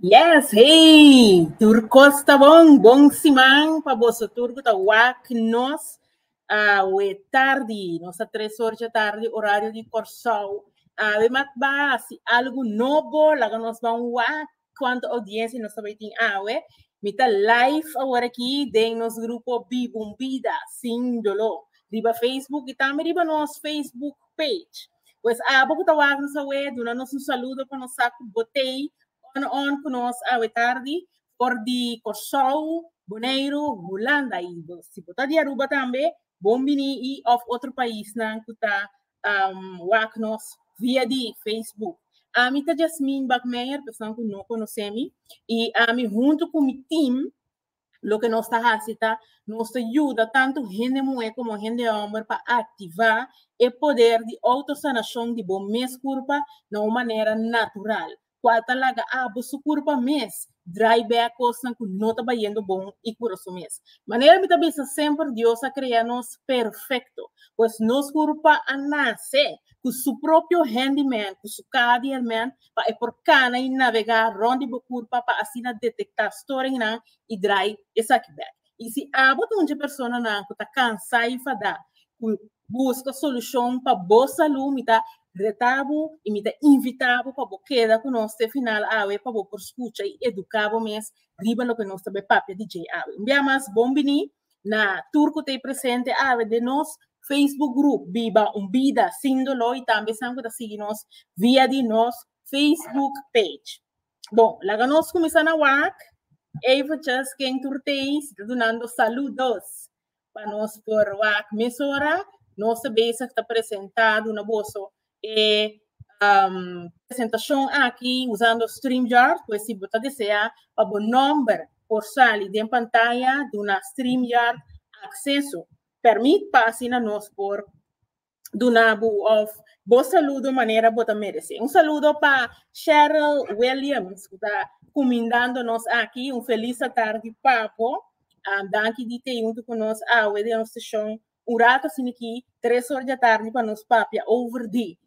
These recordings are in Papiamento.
Yes, hey! Tur kos ta bon. Bon siman pa boso tur ku ta wak nos awe tardi. Nos ta tres hor dje tardi orario di Kòrsou. Awe matbasi algu nobo laga nos ban wak. Cuanto audiencia nos tabay tin awe. Mi ta live awor aki den nos grupo Bibun Bida Sin Dolo. Riba Facebook y tambe riba nos Facebook page. Pues abo cu ta wak nos awe, duna nos un saludo pa nos sa cu bo tey on on cu nos awe tardi for di Curaçao, Boneiru, Hulanda. Y si bo ta di Aruba tambe, bon bini y of otro paisnan cu ta um wak nos via di Facebook. Ami ta Jasmine Bakmeijer, pessoan ku no konosé mi, i ami huntu ku mi tim, loke nos ta hasi ta nos ta yuda tantu hende muhé komo hende hòmber pa aktivá e poder di outosanashon di bo mes kurpa na un manera natural. cual ta laga abo su curpa mes, draai bek cosnan cu no ta bayendo bon y cura su mes. Manera mi ta bisa semper Dios a crea nos perfecto, pues nos curpa a nace cu su propio handyman cu su caha di herman pa e por cana y navega rond di bo curpa pa asina detecta storingnan y draai esaki bek. Y si abo ta un dje personanan cu ta cansa y fada cu Buska solushon pa bo salú. Mi ta retá bo i mi ta invitá bo pa bo keda ku nos te final awe pa bo por skucha i eduká bo mes riba loke nos ta bai papia di dje awe. Un bia mas bon biní na tur ku ta e presente awe den nos Facebook grup Biba un bida sin doló i tambe esnan ku ta sigui nos via di nos Facebook page. Bon, laga nos kuminsá na wak. Eventjes, ken tur t'ei si ta dunando saludos? Pa nos por wak mesora, nos a bezig ta presenta na boso e um presentacion aki usando StreamYard, pues si bo ta desea pa bo nomber por sali den pantaya, duna StreamYard acceso. Permit pa asina nos por dunabu of bo saludo manera bo ta merece. Un saludo pa Cheryl Williams, ku ta kumindando nos aki. Un feliz tardi pa bo. Um, danki di te junto ku nos awe den station. Un rato sini ki, tres or di tardi pa nos papia over di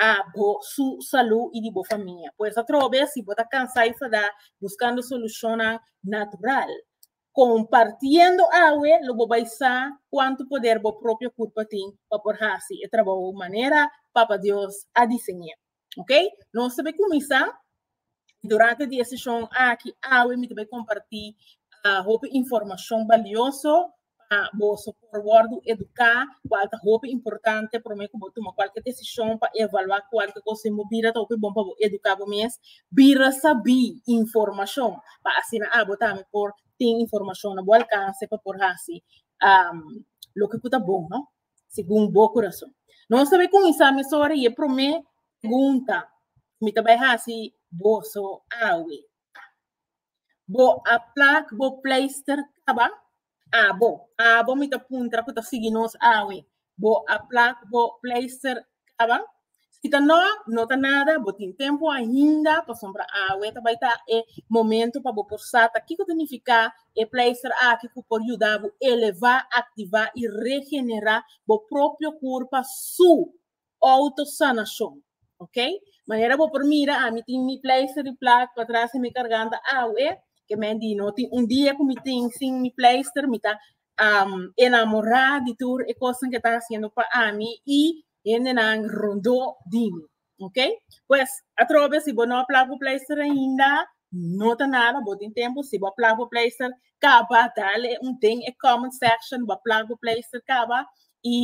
abo su salud y di bo famia. Pues atrobe si bo ta cansa y sa da buscando solucionnan natural. Compartiendo awe lo bo bay sa cuanto poder bo propio curpa tin pa por haci e trabow manera Papa Dios a diseñe. Ok, nos ta bay cuminsa y durante di e sesion aki awe mi ta bay comparti hopi informacion balioso pa boso. por wordo educa cual ta hopi importante prome cu bo tuma cualke decision pa evalua cualke cosa y bo bira ta hopi bon pa bo educa bo mes bira sabi informacion pa asina abo tambe por tin informacion na bo alcance pa por haci loke cu ta bon no segun bo curason nos ta bai cuminsa mes ora y e prome pregunta cu mi ta bai haci bo so awe bo a plak bo pleister caba Abo, abo mi ta puntra ku ta sigui nos awe. Bo a plak bo pleister kaba? Si ta no, no ta nada, bo tin tempu ainda pasobra awe ta bai ta e momento pa bo por sa ta kiko ta nifiká e pleister aki ku por yuda bo elevá, aktivá i regenerá bo propio kurpa su auto sanashon ok manera bo por mira ami tin mi pleister di plak patras y mi karganta awe ke men di no tin un dia ku mi tin sin mi pleister mi ta enamora di tur e kosan ke ta hasiendo pa ami y hendenan rondo di mi ok pues atrobe si bo no a plak bo pleister ainda no ta nada bo tin tempo si bo a plak bo pleister kaba dale un den e comment section bo a plak bo pleister kaba y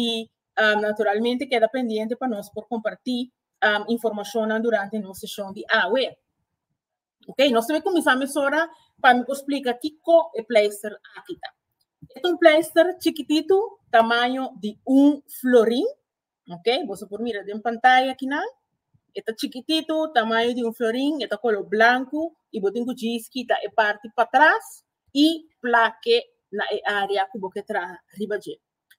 Um, naturalmente keda pendiente pa nos por comparti um, informacionnan durante nos sesión di awe. Ok, nos teme comenzá mesora pa mi explica kiko e pleister aki ta. E un pleister chiquitito, tamaño di un florin. Ok, vos por mira den pantalla aquí na. Eta chiquitito, tamaño di un florin, eta color blanco y botin ku jeans kita e parte pa atrás y plaque na e área ku bo ke traha riba je.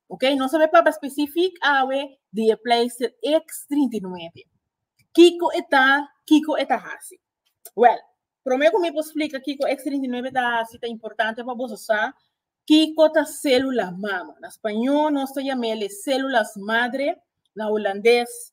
Ok, nos a bay papá specific awe di e pleister X39. Kiko e ta, kiko e ta hasi? Well, prome cu mi por splica kiko X39 ta hasi ta importante pa boso sa kiko ta celula mama. Na spañó nos ta yam'e les células madre, na Hulandes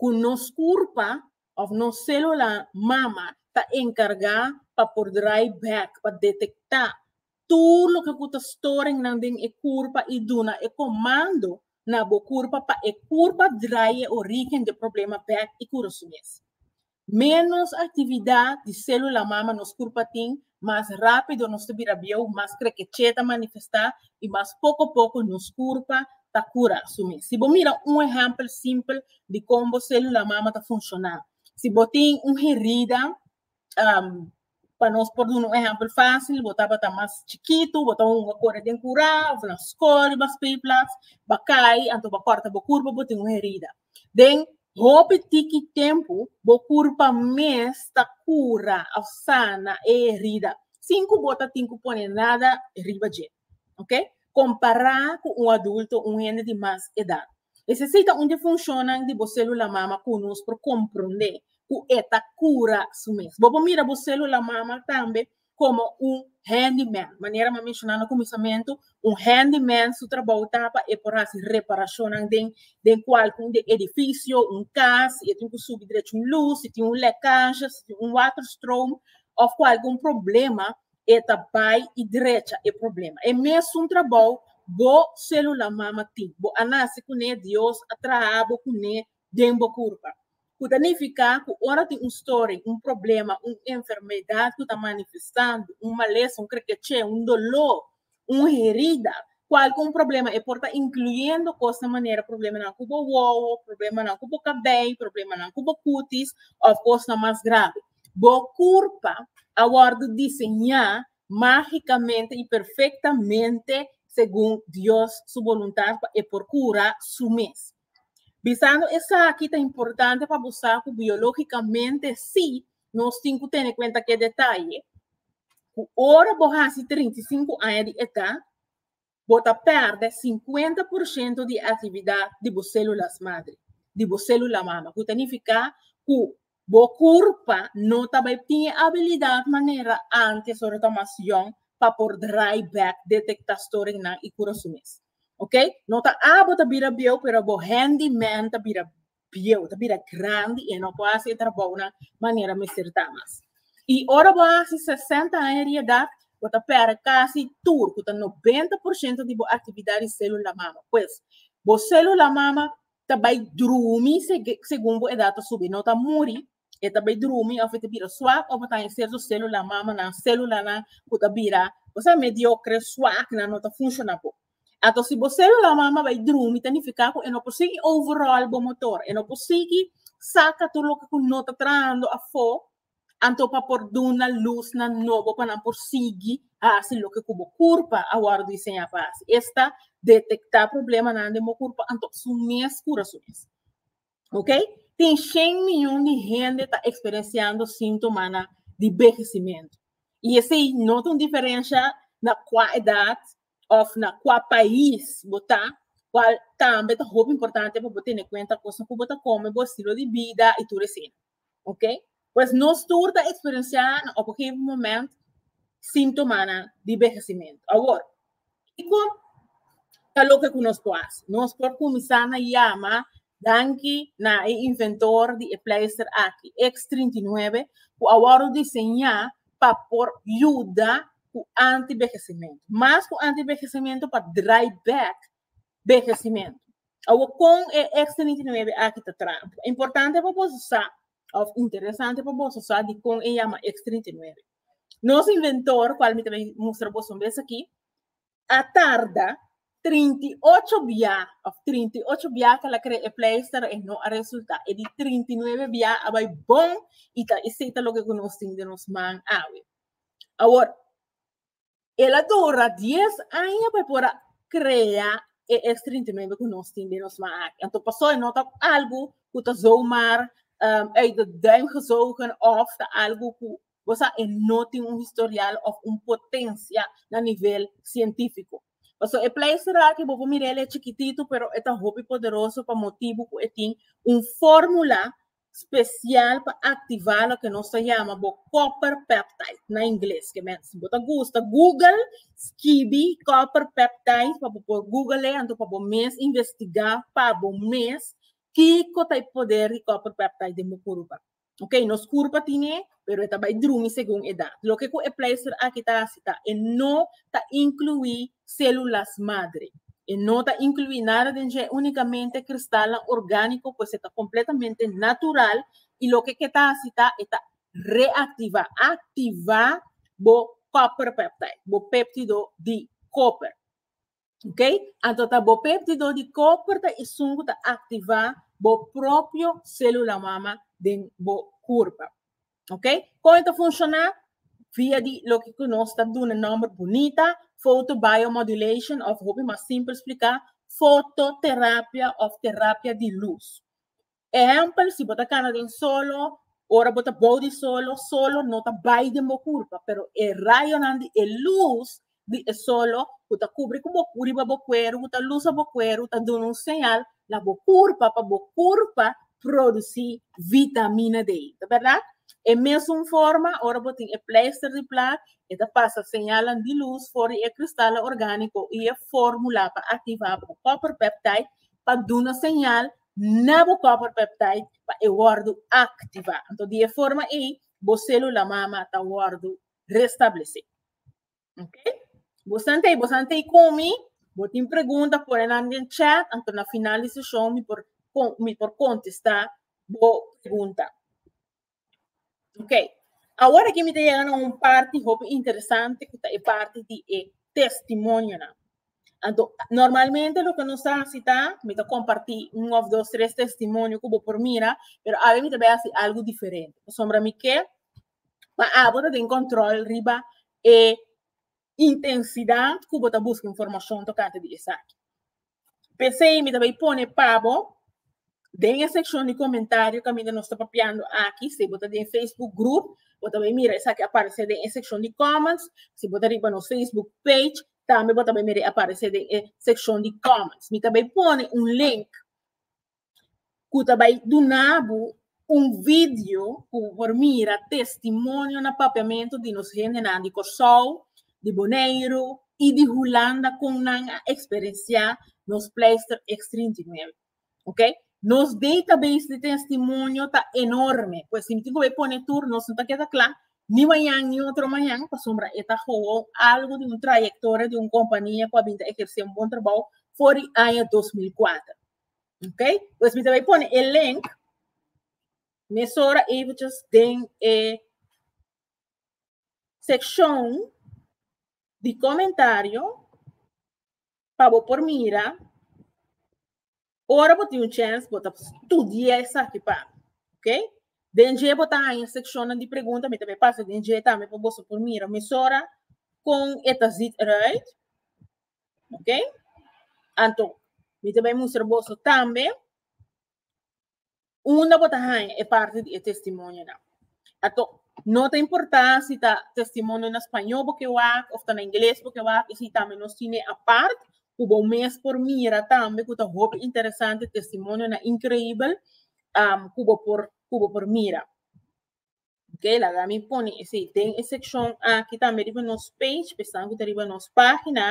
ku nos kurpa òf nos sélula mama ta enkargá pa por drai bèk pa detektá tur loke ku ta storingnan den e kurpa i duna e komando na bo kurpa pa e kurpa drai e orígen di e problema bèk i kurason mes. Ménos aktividat di sélula mama nos kurpa tin, mas rápido nos ta bira bieu, mas krekechê ta manifestá i mas poko poko nos kurpa ta kura su mes. Si bo mira un ehèmpel simpel di kon bo sélula mama ta funshoná. Si bo tin un herida, Pa nos por duna un ehèmpel fásil, bo tabata mas chikitu, bo ta hunga kore den kurá òf na skó riba speelplats, ba kai anto ba kòrta bo kurpa, bo tin un herida. Den hopi tiki tempu bo kurpa mes ta kura òf sana e herida sin ku bo ta tin ku pone nada riba dje. ok, compara cu un adulto, un hende di mas edad. Esey ta un di funcionnan di bo celula mama cu nos por comprende cu e ta cura su mes. Bo por mira bo celula mama tambe como un handyman, manera m'a menciona na cuminsamentu, un handyman su trabou ta pa e por haci reparacionnan den den cualcun di edificio, un cas, si e tin cu subi derecho un luz, si tin un lecaje, si tin un water stroom of cu algun problema e ta bai y drecha e problema. E mesun trabou bo celula mama tin, bo a naci cu ne, Dios a traha bo cu ne den bo curpa. Cu ta nifica cu ora tin un story, un problema, un enfermedad cu ta manifestando, un malesa, un crequeche, un dolor, Un herida, cual cu un problema e por ta incluyendo cos na manera problemanan cu bo wowo, problemanan cu bo cabey, problemanan cu bo cutis of cosnan mas grave. Bo curpa a wordo diseña magicamente y perfectamente segun Dios su voluntad pa e por cura su mes. Bisando esaki ta importante pa bo sa cu biologicamente si Nos tin ku tene kuenta ku e detaye ku ora bo hasi 35 aña di edat, bo ta pèrdè 50 por shento di e aktividat di bo sèlulas madre, di bo sèlula mama, ku ta nifiká ku bo kurpa no ta bai tin e abilidat manera ántes ora ta mas yòn pa por drai bèk, detektá storingnan i kura su mes. Ok, no ta a bo ta bira bieu pero bo hèndimen ta bira bieu, ta bira grandi y e no por haci e trabounan manera mester ta mas. Y ora bo a haci sesenta aña di edad, bo ta perde casi tur, cu ta noventa por ciento di bo actividad di celula mama. Pues, bo celula mama ta bay drumi segun bo edad ta subi, no ta muri, e ta bay drumi of e ta bira swak of e ta haña serto célula mama nan célula nan cu ta bira bo sa mediocre swak nan no ta funciona bo ato si bo célula mama bay drumi ta nifica cu e no por sigui overall bo motor e no por sigui saca tur loke cu no ta trahando afo anto pa por duna luz nan nobo pa nan por sigui haci loke cu bo curpa a worde diseña pa haci esta detecta problema nan den bo curpa anto asú mes cura su mes. Ok? Tin 100 miljoen di hende ta eksperensiando sintomana di behesimento. I esei no ta un diferensha na kua edat òf na kua pais bo ta, kual tambe ta hopi importante pa bo tene kuenta kos ku bo ta kome, bo estilo di bida i tur esei. Ok? Pues nos tur ta experiencia na op een gegeven moment síntomanan di vejecimiento. Awor, kiko ta loke ku nos por hasi? Nos por kuminsá na yama danki na e inventor di e pleister aki, X39, ku a wòrdu diseñá pa por yuda ku antivejecimiento. Mas ku antivejecimiento, pa draai back bevestimento. Awo kon e Extra 99 aki ta traha? Importante pa boso sa of interesante pa boso sa di kon e yama Extra 99. Nos inventor, kual mi ta bay mustra boso un bes aki, a tarda 38 bia of 38 bia ku el a krea e pleister e no a resulta. E di 39 bia a bay bon i ta esei ta loke ku nos tin den nos man awe. Awor, El a dura dies aña pa e por a krea e eks trintimentu ku nos tin den nos man aki. Anto pasó e no ta algu ku ta zomaar um uit de duim gezogen òf ta algu ku bo sa e no tin un historial òf un potensia na nivel sientífiko. Pasó e pleister aki bo por mira el e chikititu pero e ta hopi poderoso pa motibu ku e tin un fórmula special pa activa loke nos ta yama bo copper peptide na ingles ke men si bo ta gusta google skibi copper peptide pa bo por google e anto pa bo mes investiga pa bo mes kiko ta e poder di copper peptide den bo curpa okay nos curpa tine pero e ta bai drumi segun edat. Loke ku e pleister aki ta hasi ta e no ta inkluí selulas madre. E no ta inkluí nada den dje, únikamente kristalnan orgániko, pues e ta kompletamente natural i loke ke ta hasi ta e ta reaktivá, aktivá bo copper peptide, bo péptido di koper. Ok, anto ta bo pep di dor di koper ta isun ku ta aktivá bo propio sélula mama den bo kurpa. Ok, kon e ta funshoná? Via di loke ku nos ta duna nòmber bunita, fotobiomodulation òf hopi mas simpel spliká, fototerapia òf terapia di lus. Ehempel, si bo ta kana den solo, ora bo ta bou di solo, solo no ta bai den bo kurpa, pero e rayonan di e lus di e solo ku ta kubri ku bo ku riba bo kueru, ku ta lusa bo kueru, ta duna un señal na bo kurpa pa bo kurpa produsí vitamina D. Ta bèrdat? E mesun forma, ora bo tin e pleister di plak, e ta pasa señalnan di lus for di e kristalnan orgániko i e fórmula pa aktivá bo copper peptide pa duna señal na bo copper peptide pa e wordo activa. Anto di e forma ei bo celula mama ta wordo restablece. Ok? Bo santei, bo santei comi, bo tin pregunta pone nan den chat, anto na final di seshon mi por mi por contesta bo pregunta. Ok, awor aki mi ta yega na un parti hopi interesante ku ta e parti di e testimonionan. Anto, normalmente loke nos ta hasi ta, mi ta kompartí un òf dos tres testimonio ku bo por mira, pero awe mi ta bai hasi algu diferente. Pasobra mi ke pa abo ta den kòntròl riba e intensidat ku bo ta buska informashon tokante di esaki. P'esei mi ta bay pone pa bo den e sekshon di komentario kaminda nos ta papiando aki, si bo ta den Facebook grup, bo ta bay mira esaki a parese den e sekshon di kòments, si bo ta riba nos Facebook page, tambe bo ta bay mira e a parese den e sekshon di kòments. Mi ta bay pone un link ku ta bai duna bo un video ku bo por mira testimonio na papiamentu di nos hendenan di Kòrsou, di Boneiru i di Hulanda kon nan a eksperensiá nos pleistèr X trinta i nuebe. Ok, nos database di testimonio ta enorme, pues si mi tin ku bai pone tur nos no ta keda kla ni mañan ni otro mañan pasobra e ta gewoon algu di un trayektoria di un kompania ku a bin ta ekersé un bon trabou for di aña dos mil kuater. Ok, pues mi te bai pone e link mesora eventjes den e seccion di comentario pa bo por mira ora bo tin un chance bo ta studia esaki pa mi, ok. Den dje bo ta haña seccionnan di pregunta mi ta bai pasa den dje tambe pa boso por mira mesora con e ta ziet eruit. Ok? Anto, mi ta bai mustra boso tambe unda bo ta haña e parti di e testimonionan. Anto, no ta importá si ta testimonio na spañó bo ke wak òf ta na ingles bo ke wak, i si tambe nos tine apart ku bo mes por mira tambe ku ta hopi interesante, testimonionan inkreibel ku bo por ku bo por mira. Ok, laga mi pone esei den e sekshon aki tambe riba nos page, p'esnan ku ta riba nos página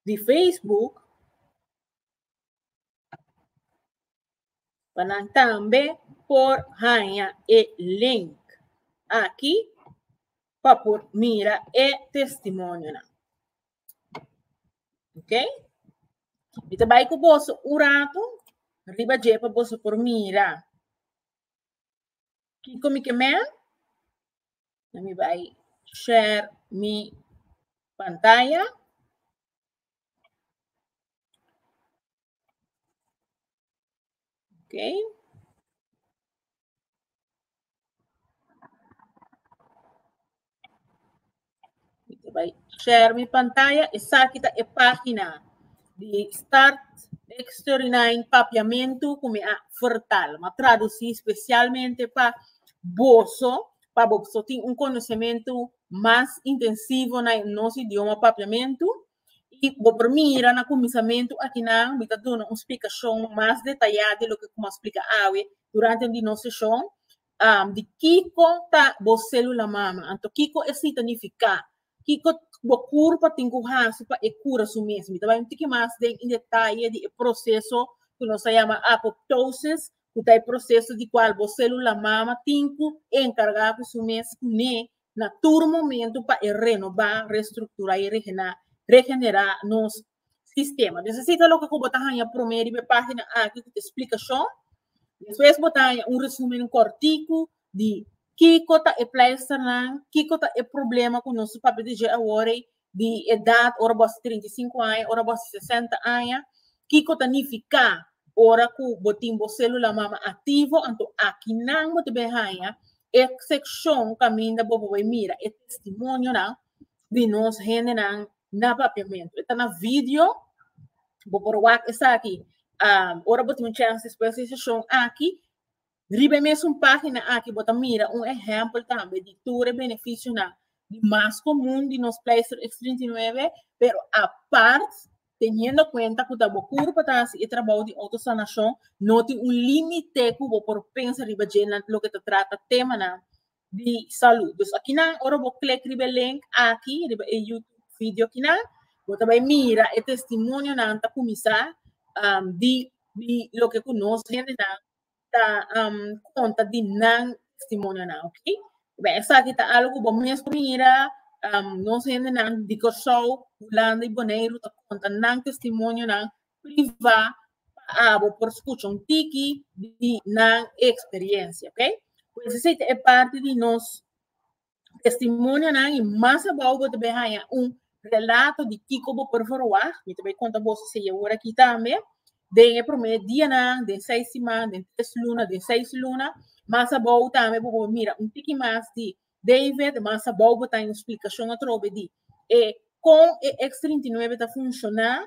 di Facebook, pa nan tambe por haña e link aki pa por mira e testimonionan. Ok? Mi ta bai ku boso un ratu riba dje pa boso por mira. Kiko mi ke mel? Na mi bai share mi pantaya. Ok. Vai share mi pantalla. Esa aqui tá a página de Start Extraordinario Papiamento que me a vertal. Me traducí especialmente para boso, para boso tem um conhecimento mais intensivo na nosso idioma papiamento. I bo por mira na kuminsamentu akinan mi ta duna un splikashon mas detayá di loke ku mi a splika awe durante un di nos seshon di kiko ta bo sélula mama. Anto kiko esei ta nifiká? Kiko bo kur pa tin ku hasi pa e kura su mes? Mi ta bai un tiki mas den en detaye di e proseso ku nos ta yama apoptosis, ku ta e proseso di kual bo sélula mama tin ku enkargá ku su mes kuné na tur momento pa e renoba, restruktura i regena, regenera nos sistema. Dus esi ta loke ku bo ta haña promé riba e página aki ku ta e splikashon. Despues bo ta haña un resumen kòrtiku di kiko ta e pleispernan, kiko ta e problema ku nos ta papia di dje awor ei di edad, ora bo a trinta i sinku aña, ora bo a sesenta aña, kiko ta nifiká ora ku bo tin bo sélula mama aktivo? Anto akinan bo ta bai haña e sekshon kaminda bo ta bai mira e testimonionan di nos hendenan na Papiamentu. E ta na vidio, bo por wak esaki ora bo tin un chèns despues di e seshon aki. Riba e mesun página aki bo ta mira un ehèmpel tambe di tur e benefisionan di mas komun di nos Pleister X trinta i nuebe, pero apart teniendo kuenta ku ta bo kur pa ta hasi e trabou di outosanashon, no tin un límite ku bo por pensa riba dje na loke ta trata temanan di salú. Dus akinan ora bo klik riba e link aki, riba e YouTube video kinan, bo ta bai mira e testimonionan ta kuminsá di di loke ku nos hendenan ta um, conta di nan testimonio nan, ok? Bem, essa aqui tá algo bom mesmo mira, um, nos gente nan de Curaçao, Holanda e Bonaire tá conta nan testemunho nan privá para abo por escutar um tiki de nan experiência, ok? Pois essa é parte de nós testimonionan i mas abou bo ta bai haña un relato di kiko bo por verwah. Mi ta bai konta bo si e ora aki tambe. Den e promé dianan, den seis siman, den tres luna, den seis luna. Mas abou tambe bo por mira un tiki mas di David. Mas abou bo ta haña un splikashon atrobe di e kon e X39 ta funshoná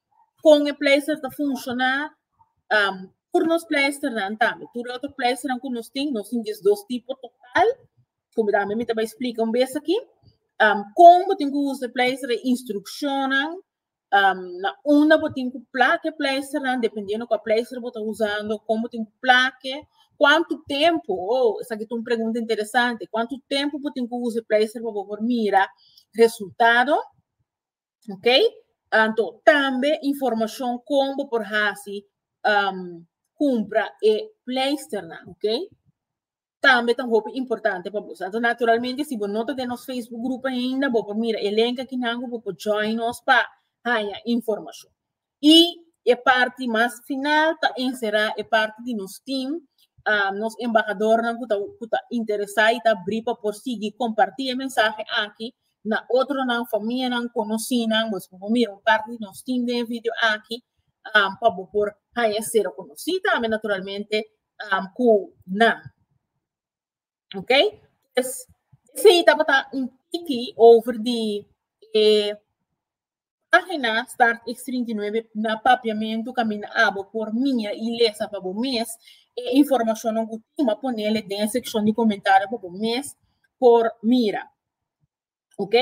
kon e pleister ta funshoná, um tur nos pleisternan tambe, tur e otro pleisternan ku nos tin, nos tin dies dos tipo total, komo tambe mi ta bai splika un bes aki, um kon bo tin ku usa e pleister, e instrukshonnan, um na unda bo tin ku plaka e pleisternan, dependiendo kua pleister bo ta usando, kon bo tin ku plak'e, kuantu tempu, oh esaki ta un pregunta interesante, kuantu tempu bo tin ku usa e pleister pa bo por mira resultado, Ok? Anto, tambe informacion con bo por hasi um, compra e pleister na, ok? Tambe tan hopi importante pa bo. Anto, naturalmente, si bo no ta den nos Facebook groep ainda, bo por mira e link aquí nango, bo por join nos pa haya informacion. Y e parti mas final ta encerá e parti di nos team, ah, nos embahadornan cu ta, cu ta interesá y ta abrí pa por sigui compartí e mensahe aki na otronan, famianan, conocenan. Bo esco por mira un parti di nos team den e video aki, ah, pa bo por haña e cero conocí tambe naturalmente, ah, cu nan. Ok? Pues, ese tabata un tiki over di e página start ex 39 na papiamento caminda abo por mira y lesa pa bo mes e informacionnan cu tin. Bo a ponele den e seccion di comentario pa bo mes por mira. Ok?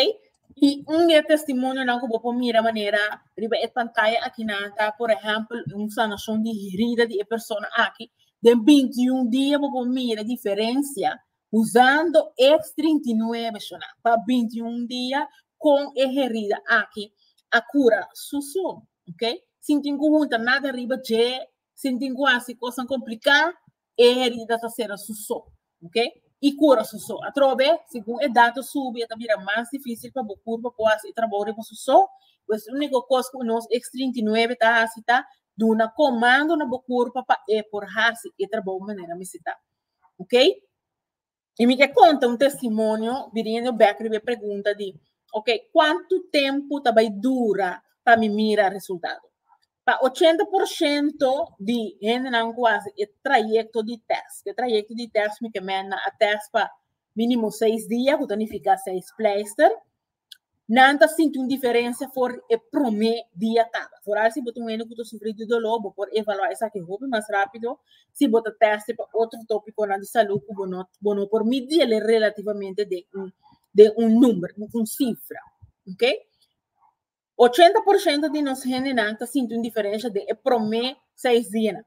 Y un di e testimonionan cu bo por mira manera riba e pantaya akinan ta, por ehempel, un sanacion di herida di e persona aki. Den binti i un dia bo por mira diferencia usando e trinta i nuebe shona pa binti i un dia con e herida aki a cura susu. Ok? Sin tin cu hunta nada riba dje, sin tin cu haci cosnan complicá, e herida ta sera su so, ok, i kura su so. Atrobe, segun e dato subi, e ta bira mas difisil pa bo kurpa por hasi e trabou riba su so. Pues, úniko kos ku nos ex trinta i nuebe ta hasi ta duna komando na bo kurpa pa e por hasi e trabou manera mester ta. Ok. Y mi ke conta un testimonio viniendo back riba e pregunta di, ok, cuanto tempo ta bay dura pa mi mira resultado? Pa ochenta por ciento di hendenan cu haci e trayecto di test, cu e trayecto di test mi ke menda a test pa minimo seis dia, cu ta nifica seis pleister, nan ta sinti un diferensia for e promé dia kaba. For al si bo ta un hende ku ta sufri di doló, bo por evaluá esaki hopi mas rápido si bo ta tèsti pa otro tópikonan di salú ku bo no bo no por midi el relativamente den un den un number, den un sifra, ok. Ochenta por shento di nos hendenan ta sinti un diferensha den e promé seis dianan.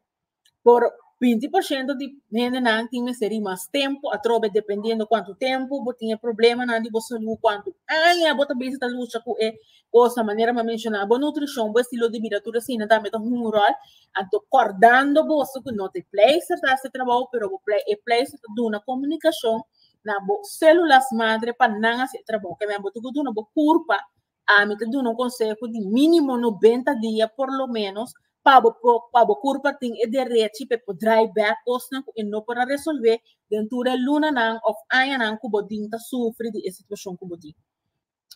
Por binti por shento di hendenan tin mester di mas tempu atrobe dependiendo kuantu tempu bo tin e problemanan di bo salú, kuantu aña bo ta bisa ta lucha ku e kos, manera mi a menshona bo nutrishon, bo estilo di bida tur asina tambe ta hunga un ròl. Anto kòrdando boso ku no ta e pleisr ta hasi e trabou pero bo e pleisr ta duna komunikashon na bo selulas madre pa nan hasi e trabou, kende bo tuku duna bo kurpa Ami ta duna un conseho di minimo nobenta dia por lo menos pa bo po pa bo curpa tin e derechi pe por draai back cosnan cu e no por a resolve den tur e lunanan of añanan cu bo tin ta sufri di e situacion cu bo tin.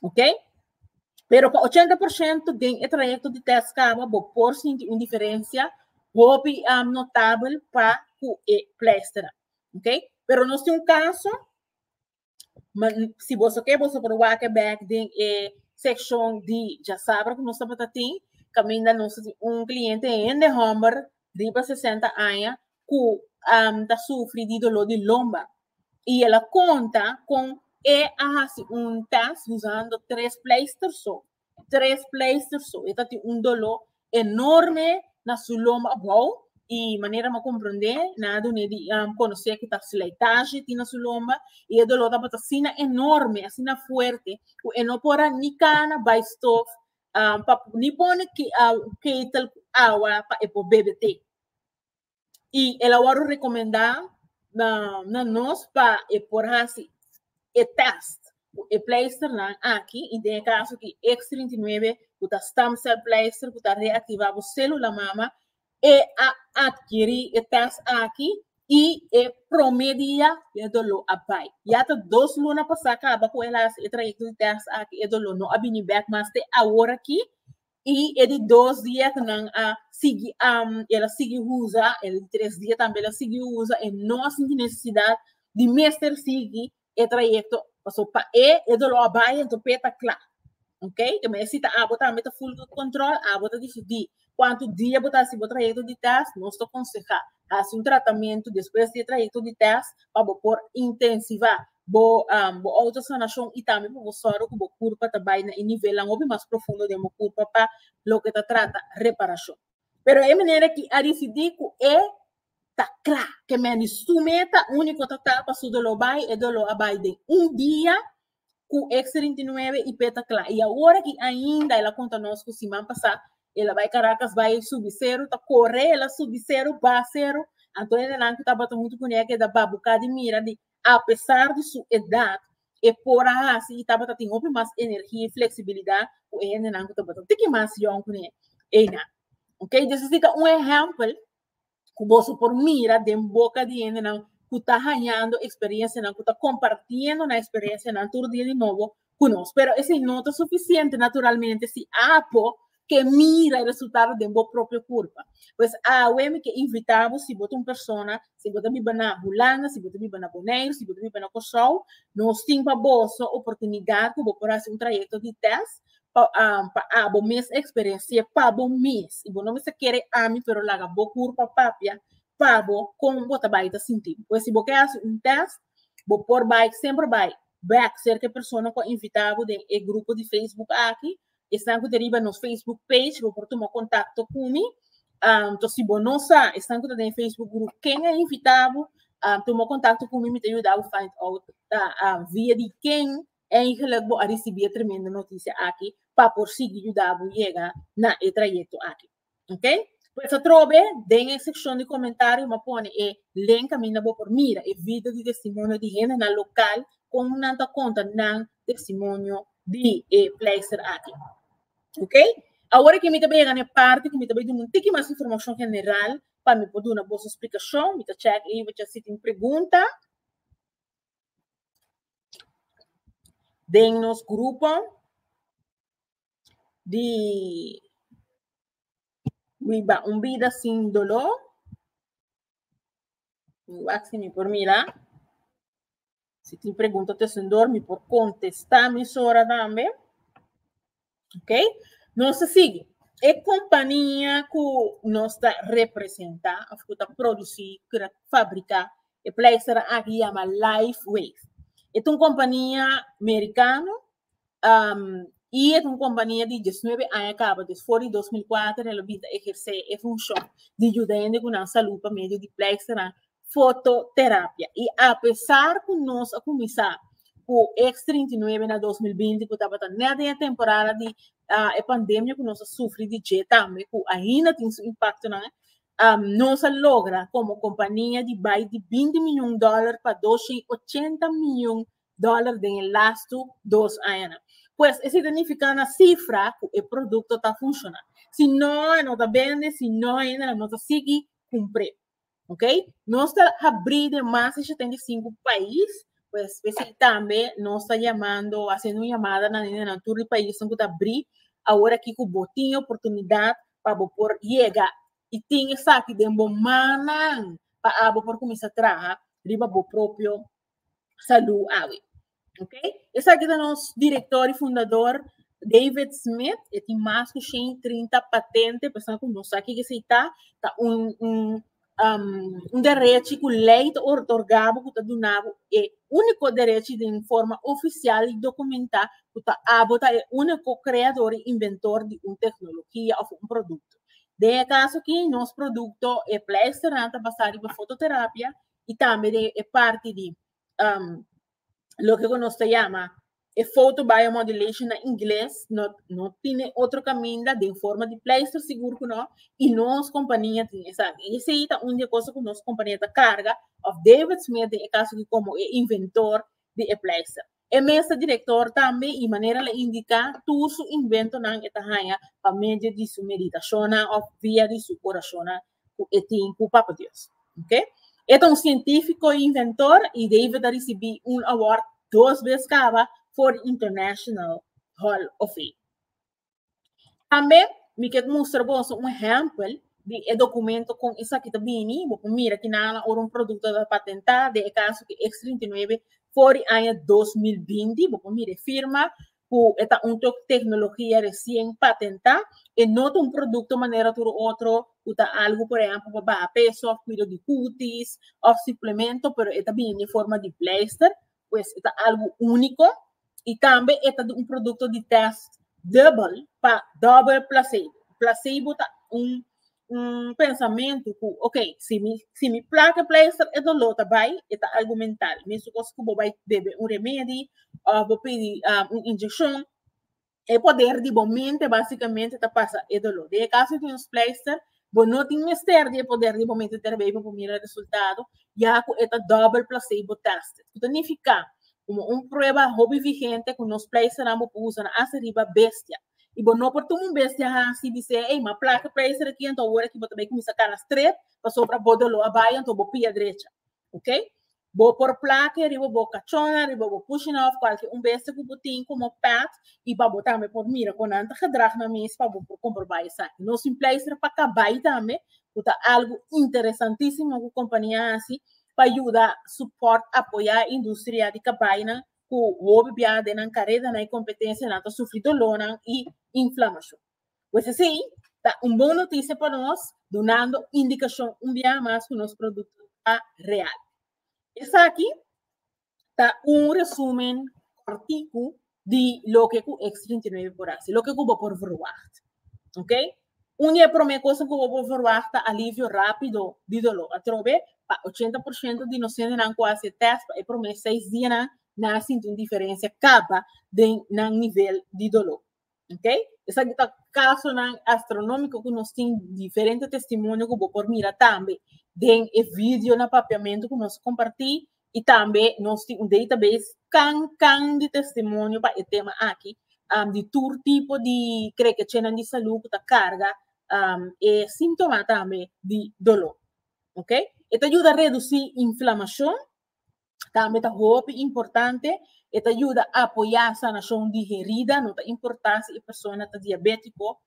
Ok. Pero pa ochenta por ciento den e trayecto di test caba bo por sinti un diferencia hopi notabel pa cu e pleisteran. Ok. Pero nos tin un caso. Ma si boso ke boso por wake back den e section di ya sabra ku nos tabata tin kaminda nos tin un kliente hende homber riba 60 aña ku um, ta sufri di dolor di lomba y el a conta con e a hasi un test usando tres pleister so e tres pleister so e ta tin un dolo enorme na su lomba abou y manera mi a comprende nan a dun'e di conoce cu ta slijtage tin na su lomba y e dolo tabata asina enorme asina fuerte cu e no por a ni cana bay stove pa ni pone kettle cu awa pa e por bebe te. y el a wòrdu rekomendá na na nos pa e por hasi e tèst ku e pleisternan aki y den e kaso di X trinta i nuebe ku ta stem cell pleister ku ta reaktivá bo sélula mama e a adkirí e tèst aki y e promé dia e doló a bai. Ya ta dos luna pasá kaba ku el a hasi e trayekto di tèst aki e doló no a bini bèk mas te awor aki I e di dos dia ku nan a sigui am, el a sigui usa, e di tres dia tambe el a sigui usa, e no a sinti nesesidat di mester sigui e trayekto. Pasobra pa e, e doló a bai anto p'e ta kla. Ok? Te mester si ta abo tambe ta full good control, abo ta disidí kuantu dia bo ta hasi bo trayekto di tèst. Nos ta konsehá hasi un tratamentu despues di e trayekto di tèst pa bo por intensivá Bo bo autosanashon i tambe pa bo sòru ku bo kurpa ta bai na e nivelnan hopi mas profundo den bo kurpa pa loke ta trata reparashon. Pero e manera ki a disidí ku e ta kla ke men di su meta úniko ta ta pa su doló bai, e doló a bai den un dia ku eks trinta i nuebe i p'e ta kla. I awor aki ainda el a konta nos ku siman pasá el a bai Karakas bai subi seru, ta kore el a subi seru, ba seru, anto e nenan ku tabata huntu kuné a keda babuká di mira di Apesar di su edat, e por a hasi i tabata tin hopi mas energia i fleksibilidat ku e hendenan ku tabata un tiki mas yòn ku ne einan. Ok, di esaki ta un ehèmpel ku boso por mira den boka di hendenan ku ta hañando eksperiensianan, ku ta kompartiendo nan eksperensianan tur dia di nobo ku nos. Pero esei no ta sufisiente naturalmente si Apo ke mira e resultado den bo propio kurpa. Pues awe mi ke invitá bo si bo ta un persona, si bo ta biba na Bulanga, si bo ta biba na Boneiru, si bo ta biba na Kòrsou, nos tin pa boso oportunidat ku bo por hasi un trayekto di tèst pa pa abo mes eksperensié pa bo mes. I bo no mester kere ami pero laga bo kurpa papia pa bo kon bo ta bai ta sinti. Pues si bo ke hasi un tèst Bo por bai, semper bai, back cerca e persona cu a invita bo den e grupo di Facebook aki. Esnan cu ta riba nos Facebook page, bo por tuma contacto cu mi. Um, to si bo no sa, esnan cu ta den e Facebook grupo, ken a invita bo, um, tuma contacto cu mi, mi ta yuda bo find out ta, um, via di ken eigenlijk bo a ricibi e tremendo noticia aki pa por sigui yuda bo yega na e trayecto aki. Ok? Pues atrobe, den e seccion di comentario, ma pone e link a mina bo por mira, e video di testimonio di hendenan local, con nan ta conta nan testimonio di e pleister aki. Ok? Awor aki mi ta bay yega na e parti cu mi ta bay duna un tiki mas informacion general pa mi por duna boso explicacion. Mi ta check ey pacha si tin pregunta den nos grupo. di biba un bida sin doló, mi wak si mi por mira, si tin pregunta ta esondor mi por contesta amisora tambe, ok, nos ta sigui, e compania cu nos ta representa of cu ta produci, cu ta fabrica e pleister aki yama Life Wave, e ta un compania mericano Um, i e ta un kompania di dieznuebe aña kaba, dus for di dos mil kuater el a bini ta ehersé e funshon di yuda hende ku nan salú pa medio di plèksternan, fototerapia. I apesar ku nos a kuminsá ku X trinta i nuebe na dos mil binti ku tabata nèt den e temporada di e pandemia ku nos a sufri di dje tambe ku ainda tin su impaktonan, um nos a logra komo kompania di bai di binti mion dòler pa dos shen ochenta mion dólar den e lastu dos añanan. Pues esei ta nifiká na sifra ku e produkto ta funshoná. Si no e no ta bende, si no e no ta sigui kumpr'é. Ok? Nos ta habrí den mas di shetenta i sinku pais, pues p'esei tambe nos ta yamando, hasiendo un yamada na nendenan tur di paisnan ku ta habrí awor aki ku bo tin e oportunidat pa bo por yega i tin esaki den bo mannan pa abo por kuminsá traha riba bo propio salú awe. Ok? Esaki ta nos direktor i fundador David Smith, e tin mas ku 130 patente, pesa ku no sa kiko esei ta, ta un, un, um, un derechi ku lei ta otorgabo ku ta dunabo e úniko derechi den forma ofisial i dokumentá ku ta abo ta e úniko kreador i inventor di un teknologia òf un produkto. Den e kaso akí, nos produkto e pleisternan ta basá riba fototerapia y tambe den e parti di um, loke ku nos ta llama e foto biomodulation na inglés, no, no tiene otro caminda den forma di pleister sigur ku no, y nos kompania tin esa. Y esei ta un di e kosa ku nos kompania ta karga, of David Smith den e kaso di komo e inventor di e pleister. E mesa director tambe y manera el a indica tur su inventonan e ta haya pa medio di su meditacionnan of via di su oracionnan cu e tin cu Papa Dios. Ok. E ta un cientifico y inventor y David a ricibi un award dos bes caba for di International Hall of Fame. Tambe mi ke mustra boso un ehempel di e dokumento kon esaki ta bini. Bo por mira kinan la ora un produkto ta patentá, den e kaso ku X trinta i nuebe for di aña dos mil binti, bo por mira e firma ku e ta un teknologia resien patentá. E no ta un produkto manera tur otro ku ta algu por ehèmpel pa baha peso òf kuido di kutis òf suplemento, pero e ta bini den forma di pleister Pues e ta algu úniko i tambe e ta di un produkto di tèst dubel pa dòbel plasebo. Plasebo ta un un pensamentu ku okay, si mi si mi plak e pleister e doló ta bai, e ta algu mental. Mesun kos ku bo bai bebe un remedi òf bo pidi un injekshon, E poder di bo mente básicamente ta pasa e dolor. De e caso tin un splijster, bo no tin mester di e poder di bo mente terbei pa bo mira resultado, ya cu e ta double placebo tested. Cu ta nifica? Como un prueba hopi vigente cu nos splijsternan bo por usa na haci riba bestia. Y bo no por tuma un bestia haci di sey, ey, m'a placa e plijster aki, anto awor aki bo ta bay cuminsa cana strep, pasobra bo dolor a bay, anto bo pia drecha. Ok? Bo por plake riba bo kachona, riba bo kushina òf kualke un bestia ku bo tin komo pèt i pa bo tambe por mira kon nan ta gedrag nan mes pa bo por komprobá esaki. Nos tin pleister pa kabai tambe, ku ta algu interesantísimo ku kompania a hasi pa yuda supòrt, apoyá industria di kabainan ku hopi bia den nan karedanan i kompetensianan ta sufri dolónan i inflamashon. Pues así, ta un bon noticia pa nos, dunando indicacion un biaha mas cu nos producto ta real. Esaki ta un resumen corticu di loke cu X trinta i nueve por haci, loke cu bo por verwacht. Ok? Un di e prome coson cu bo por verwacht ta alivio rapido di dolor. Atrobe, pa ochenta por ciento di nos hendenan cu a haci e test pa e prome seis dianan, nan a sinti un diferencia caba den nan nivel di dolor. Ok? Esaki ta kasonan astronómiko ku nos tin diferente testimonio ku bo por mira tambe den e video na Papiamentu ku nos a kompartí i tambe nos tin un database kan kan di testimonio pa e tema aki di tur tipo di krekechenan di salú ku ta karga e símtoma tambe di doló. Ok? E ta yuda redusí inflamashon. tambe ta hopi importante, e ta yuda apoyá sanashon di herida, no ta importá si e persona ta diabétiko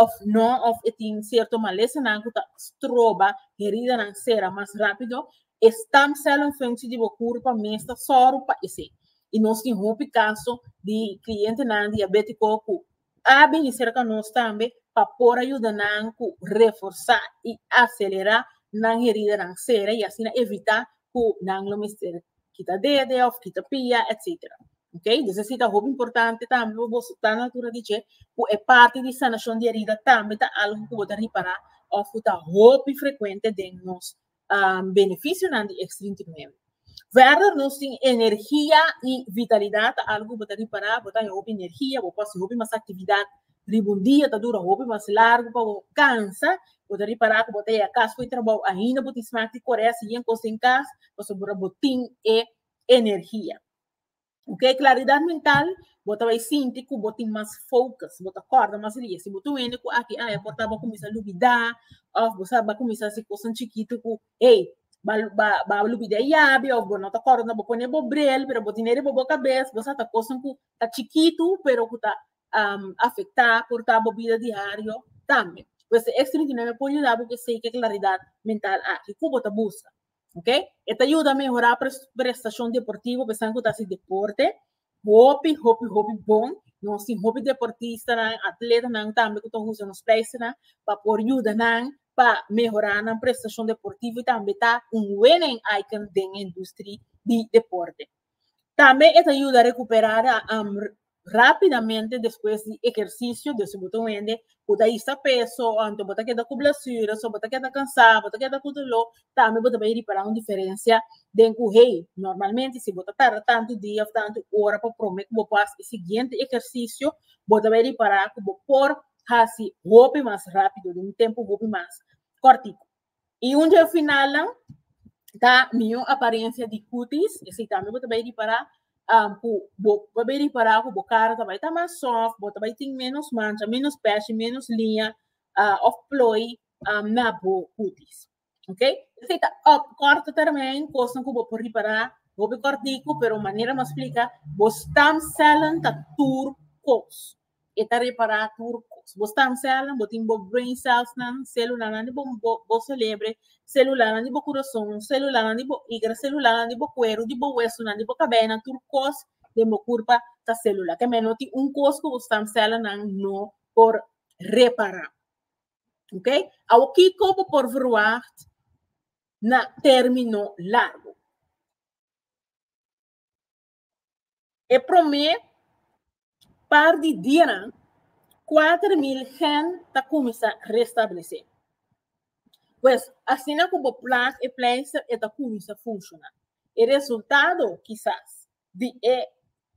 òf nò, òf e tin sierto malesanan ku ta stroba heridanan sera mas rápido, e stam cel en funshi di bo kurpa mes ta sòru pa esei. I nos tin hopi kaso di klientenan diabétiko ku a bini serka nos tambe pa por a yuda nan ku reforsá i aselerá nan heridanan sera i asina evitá ku nan lo mester kita dede òf kita pia etsetera. Ok, dus esei ta hopi importante tambe pa boso ta na altura di dje ku e parti di sanashon di herida tambe ta algu ku bo ta ripará òf ku ta hopi frekuente den nos um, beneficionan di extrinticamente. Verder nos tin energia y vitalidad ta algo bota ripara, bota e hopi energia, bo pasi hopi mas actividad riba un dia, ta dura hopi mas largo pa bo cansa, bota ripara cu bota yega cas fo e trabao ainda bo tin smak di coresi yen cos den cas, pasobra bo tin e energia. Ok, claridad mental, bo ta bay sinti cu bo tin mas focus, bo ta corda mas rie. Si bo ta wende cu aki aya por ta bo cuminsa lubida, of bo sa bo cuminsa haci cosanan chikitu cu, hey, ba, ba, ba lubida e yabi, of bo no ta corda, bo pone bo bril, pero bo tene riba bo cabes, bo sa ta cosanan cu ta chikitu, pero cu ta afecta por ta bo bida diario tambe. Pues e extra trinta y nueve por yuda bo cu esey cu e claridad mental aki. Cu bo ta busca? Ok? E ta yuda mehorá prestashon deportivo pasobra ku ta hasi deporte. Hopi, hopi, hopi bon. Nos tin hopi deportistanan, atletanan tambe ku ta usa nos pèistanan pa por yuda nan pa mehorá nan prestashon deportivo i tambe ta un wenen item den e industri di deporte. Tambe e ta yuda rekuperá Rápidamente despues di ehersisio, dor si bo ta wende bo ta hisa peso, anto bo ta keda ku blasura, so bo ta keda kansá, bo ta keda ku doló, tambe bo ta bai ripará un diferensia den ku hei. Normalmente si bo ta tarda tantu dia òf tantu ora pa promé ku bo por hasi e siguiente ehersisio, bo ta bai ripará ku bo por hasi hopi mas rápido den un tempu hopi mas kòrtiku. I un dje finalnan ta mihó aparensia di kutis, esei tambe bo ta bai ripará ku bo ta bai ripará ku bo kara ta bai ta mas sòft, bo ta bai tin ménos mancha, ménos pèshi, ménos liña òf ploi na bo kutis, ok? Esei ta òf kòrtu tèrmèn kosnan ku bo por ripará hopi kòrtiku, pero manera nos splika bo stamsèlnan ta tur kos. E ta repará tur kos. Bo stam cellnan, bo tin bo brain cellsnan, celulanan di bo bo celebre, celulanan di bo kurason, celulanan di bo igra, celulanan di bo kueru, di bo wesonan, di bo kabena, tur kos den bo kurpa ta celula. Te meno tin un kos ku bo stam cellnan no por repará. Ok, awo kiko bo por verwagt na término largu? E promé par di dianan, kuater mil hèn ta kuminsá restablesé. Pues, asina ku bo plak e pleister e ta kuminsá funshoná. E resultado, kisas, di e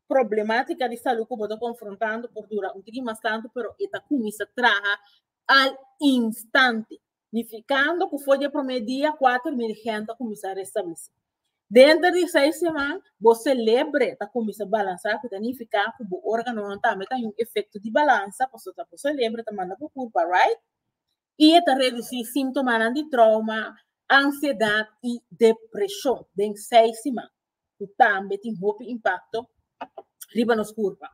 problemátika di salú ku bo ta konfrontando por dura un tiki mas tantu, pero e ta kuminsá traha al instante. nificando cu for di e prome dia cuater mil hende a cuminsa restablece. Denter di seis seman, bo celebre ta cuminsa balansa cu ta nifica cu bo organonan tambe ta yu efecto di balansa pasobra bo celebre ta manda bo curpa, right? Y e ta reduci simtomanan di trauma, ansiedad y depresion den seis seman. cu tambe tin hopi impacto riba nos curpa.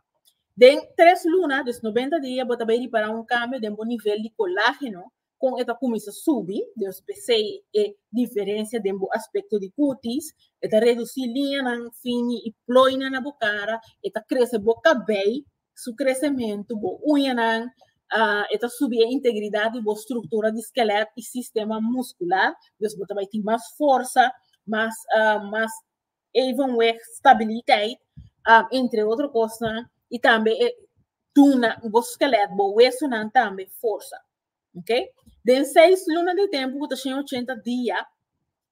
Den tres luna, dus noventa dia, bo ta bay ripara un cambio den bo nivel di colágeno con e ta cuminsa subi, dus pesey e diferencia den bo aspecto di cutis, e ta reduci liñanan fini y ploynan na bo cara, e ta crece bo cabey su crecemento, bo uñanan, uh, e ta subi e integridad di bo structura di skelet y sistema muscular, dus bo ta bai tin mas forza, mas, uh, mas evenweg stabiliteit, uh, entre otro cosnan, y tambe e duna bo skelet, bo wesonan tambe forza. Okay? Den seis luna di tempo, ku ta shin ochenta dia,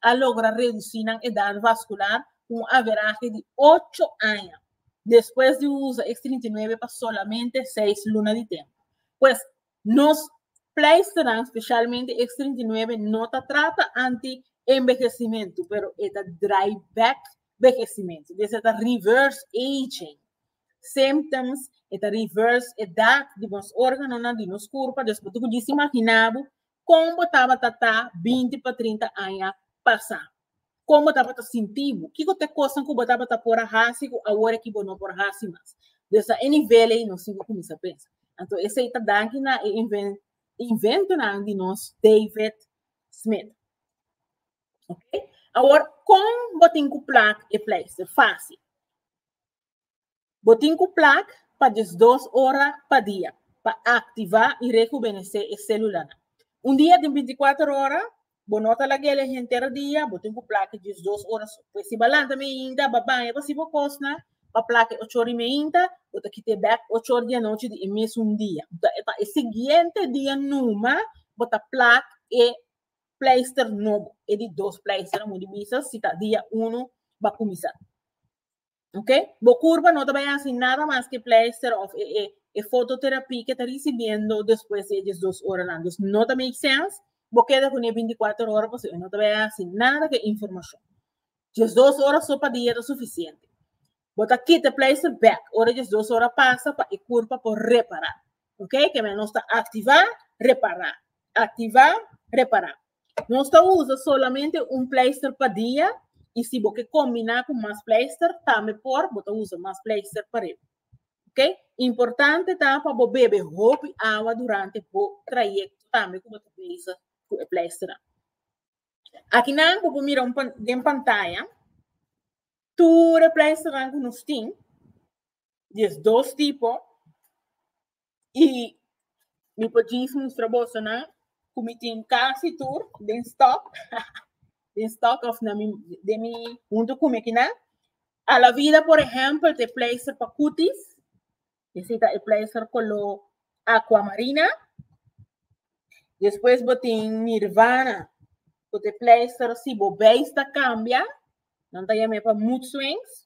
a logra reducí nan edad vascular cu un averahe di ocho aña despues di usa ex trinta i nuebe pa solamente seis luna di tempo. Pues, nos pleisternan, specialmente ex trinta i nuebe, no ta trata anti envehecimento, pero e ta draai back vehecimento, des e ta reverse aging symptoms, e ta reverse edad di nos organonan, di nos curpa, despues bo ta cudici imagina bo Kon bo tabata ta binti pa trinta aña pasá? Kon bo tabata sinti bo? Kiko ta e kosnan ku bo tabata por a hasi ku awor aki bo no por hasi mas? Des ta e nivel ei nos tin ku kuminsá pensa. Anto esei ta danki na e inventonan di nos David Smith. Oke, awor kon bo tin ku plak e pleister? Fásil. Bo tin cu plak pa diesdos ora pa dia pa activa y rejuvenece e celulanan. Un dia tin binticuater ora, bo no ta laguele henter dia, bo tin cu plak diesdos ora so. Pues si bo a lanta meinta, bo a baña, bo a haci bo cosnan, bo a plak ocho ora y meinta, bo ta kita e bek ocho ora di anochi di e mesun dia. Enton pa e siguiente dia numa bo ta plak e pleister nobo, e di dos pleister, amo di bisa si ta dia uno bo a cuminsa. Ok? Bo curva no ta bay haci nada mas que pleister of e, e, e fototerapie que ta recibiendo después de ellos dos horas lang. Dus no ta make sense. Bo queda con e 24 horas paso e no ta bay haci nada que información. Ellos dos horas so pa dia ta suficiente. Bo ta quita pleister back ora ellos dos horas pasa pa e curva por reparar. Ok? Que men nos ta activa, reparar. Activa, reparar. Nos ta usa solamente un pleister pa dia y si bo ke combina cu mas pleister tambe por, bo ta usa mas pleister pa riba. Ok? Importante ta pa bo bebe hopi awa durante bo trayecto tambe cu bo ta bezig cu e pleisternan. Akinan bo por mira un pan, den pantaya tur e pleisternan cu nos tin. Di es dos tipo. I mi por djis mustra boso nan ku mi tin kasi tur den stock, den stock of na mi, den mi huntu ku mi kinan. Alavida por ehempel ta e pleister pa kutis, ese ta e pleister koló aquamarina. Despues bo tin Nirvana, ku ta e pleister si bo beis ta kambia, nan ta yam'e pa mood swings.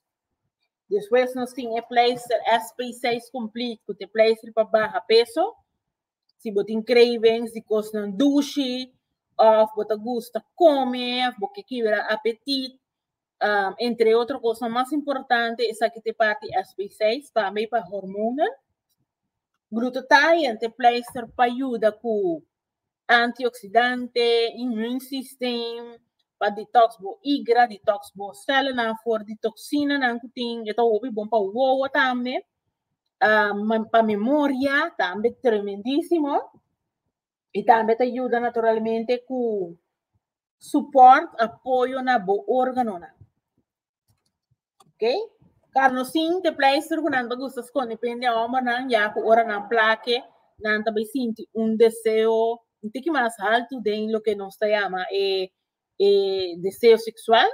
Despues nos tin e pleister SP6 complete cu te pleister pa baha peso. Si bo tin cravings di cosnan dushi of bo ta gusta come of bo ke kibra apetit um, entre otro cosnan mas importante esaki te parti SP6 tambe pa hormonen. Glutathione te pleister pa yuda cu Antioxidante, immune system, pa detox bo igra, detox bo celanan for di toxinanan cu tin, e ta hopi bon pa wowo tambe, ah, pa memoria tambe tremendisimo, y tambe ta yuda naturalmente cu support, apoyo, na bo organonan. Ok? Carno sin te pleister ku nan ta gusta skonde pende hombrenan ya ku ora nan plake nan ta bai sinti un deseo un tiki mas haltu den loke nos ta yama e e deseo seksual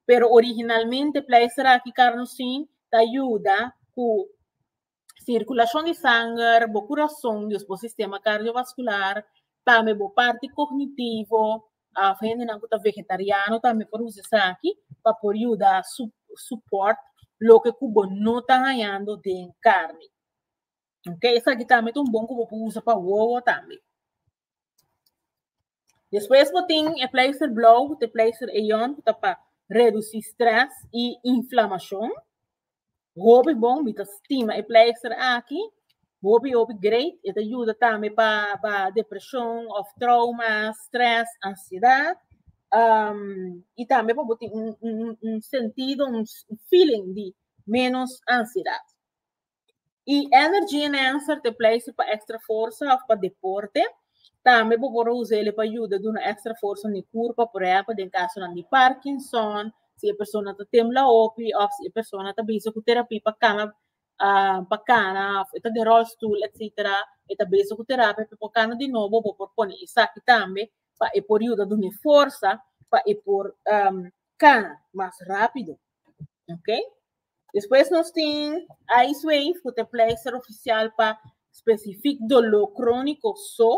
pero originalmente pleister aki carno sin ta yuda ku sirkulacion di sanger, bo kurason, dus bo sistema kardiovaskular, tambe bo parti kognitivo, òf hendenan ku ta vegetariano tambe por usa esaki pa por yuda su- supòrt loke ku bo no ta hañando den karni, ok, esaki tambe ta un bon ku bo por usa pa wowo tambe. Despues bo tin e pleister blauw cu t'e pleister eon cu ta pa reduci stress y inflamacion. Hopi bon, mi ta stima e pleister aki. Hopi hopi great. E ta yuda tambe pa pa depresion of trauma, stress, ansiedad. Um, y tambe pa bo tin un un un sentido, un feeling di menos ansiedad. Y energy enhancer te place pa extra forsa of pa deporte. Tambe bo por usele pa yuda duna extra forsa ni curpa, por ejemplo, den casonan di Parkinson, si e persona ta tembla hopi of si e persona ta bezig cu terapi pa cana, ah, pa cana, of e ta den rolstoel, etc. E ta bezig cu terapi pa e por cana di nobo, bo por pone esaki tambe pa e por yuda duna e forsa pa e por cana mas rapido. Ok? Despues nos tin Icewave cu ta e pleister oficial pa specific dolor cronico so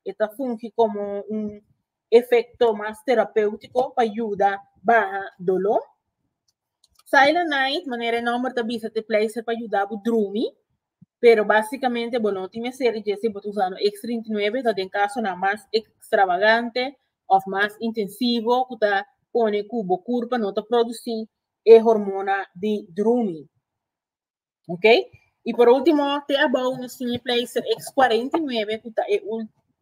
e ta fungi como un efecto mas terapeutico pa yuda baha dolor. Silent Night manera e nomber ta bisa ta e pleister pa yuda bo drumi pero basicamente bo no tin mester di djesse bo ta usa no X trinta i nuebe ta den casonan mas extravagante of mas intensivo cu ta pone cu bo curpa no ta produci e hormona di drumi. Ok? Y por último, te abou nos tin e pleister X49, cu ta e